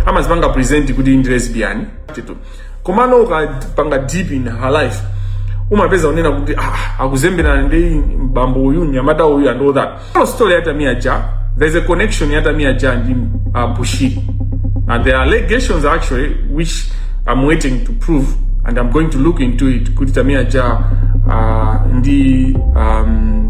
amazipanga present kuti ndi lesbian komano ukapanga deep in her life umapeza zonena kuti ah, akuzemberana ndi mbambo uyu mnyamata uyu and all that no story ya Tamia Ja there's a connection ya Tamia Ja ndi uh, Bushiri and there are allegations actually which i'm waiting to prove and i'm going to look into it kuti Tamia Ja uh, ndi um,